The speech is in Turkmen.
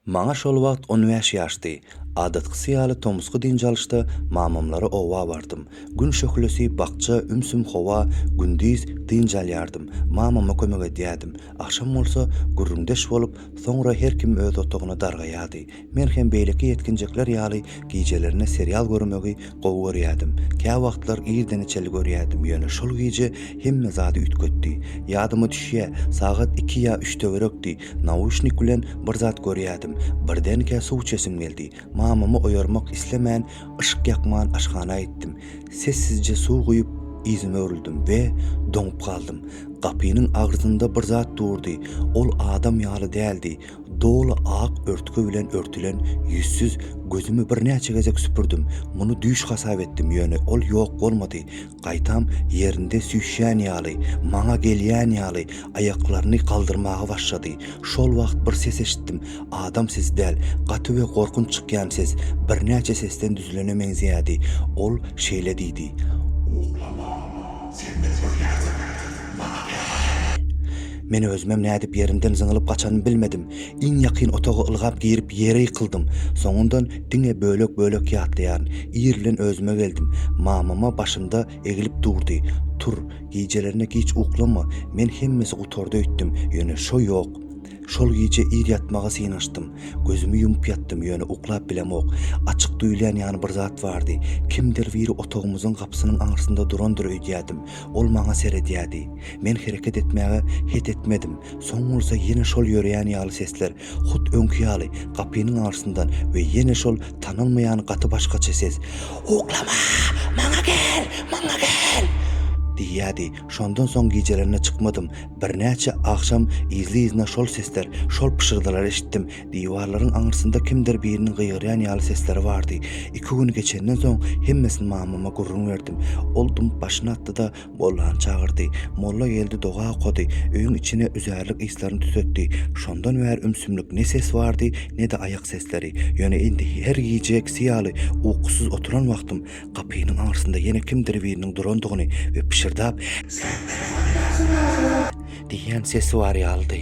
Maňa şol wagt on bäş ýaşdy. Adatkysy ýaly tomusky dynç alyşda mamamlara oba bardym. Gün şöhlesi, bakja, ümsüm howa, gündiz, dynç alýardym, mamama kömek edýärdim. Agşam bolsa, gürrüňdeş bolup, soňra her kim öz otagyna dargaýardy. Men hem beýleki ýetginjekler ýaly gijelerine serial görmegi Gowy görýädim. Kä wagtlar irdeneçeli görýädim, ýöne şol gije hemme zady üýtgetdi. Ýadyma düşýä, sagat iki ýa üç töwerekdi, nauşnik bilen bir zat görýädim. Birdenkä suw içesim geldi. Mamamy oýarmak islemän, yşyk ýakman aşhana gitdim. Sessizje suw guýup, yzyma öwrüldim we doňup galdym. Gapynyň agrzynda bir zat durdy. Ol adam ýaly däldi. Doly ak örtgi bilen örtülen ýüzsüz gözümi birnäçe gezek süpürdim. Muny düýş hasap etdim, ýöne ol ýok bolmady. Gaýtam ýerinde süýşýän ýaly, maňa gelýän ýaly, aýaklaryny galdyrmaga başlady. Şol wagt bir ses eşitdim. Adam sesi däl, gaty we gorkunç çykýan ses, birnäçe sesden düzülene meňzeýärdi. Ol şeýle diýdi. Uklama, Sen bizi görýärsiň, maňa ýalan aýtma. Men özümem nädip ýerimden zyňylyp gaçanymy bilmedim. Iň ýakyn otaga ylgap girip ýere ýykyldym. Soňundan diňe bölek-bölek ýatlaýaryn. Ir bilen özüme geldim. Mamama başymda egilip durdy. Tur, gijelerine giç uklama. Men hemmesi gutardy öýtdüm. Ýöne şo ýok. Şol gije ir ýatmaga synanyşdym. Gözümi ýumup ýatdym, ýöne uklap bilemok. Açyk duýulýan ýaly bir zat bardy. Kimdir biri otagymyzyň gapysynyň aňyrsynda durandyr öýdýädim. Ol maňa seredýärdi. Men hereket etmäge het etmedim. Soň bolsa ýene şol ýöreýän ýaly sesler, hut öňki ýaly, gapynyň aňyrsyndan we ýene şol tanalmaýan gaty başgaça ses, Uklama! Maňa gel! Maňa gel! diýýärdi. Şondan soň gijelerine çykmadym. Birnäçe agşam yzly-yzyna şol sesler, şol pyşyrdylary eşitdim. Diwarlaryň aňyrsynda kimdir biriniň gygyrýan ýaly sesleri bardy. Iki gün geçenden soň hemmesini mamama gürrüň berdim. Ol dymyp başyny atdy-da, mollany çagyrdy. Molla geldi, doga okady. Öýüň içine üzärlik yslaryny tütetdi. Şondan bäri ümsümlik ne ses bardy, ne-de aýak sesleri. Ýöne indi her gije ikisi ýaly, ukusyz oturan wagtym, Gapynyň aňyrsynda ýene kimdir biriniň durandygyny we pyşyrdap, Sen telefony ýakyp ýörüň! Diýýän sesi bar ýalydy.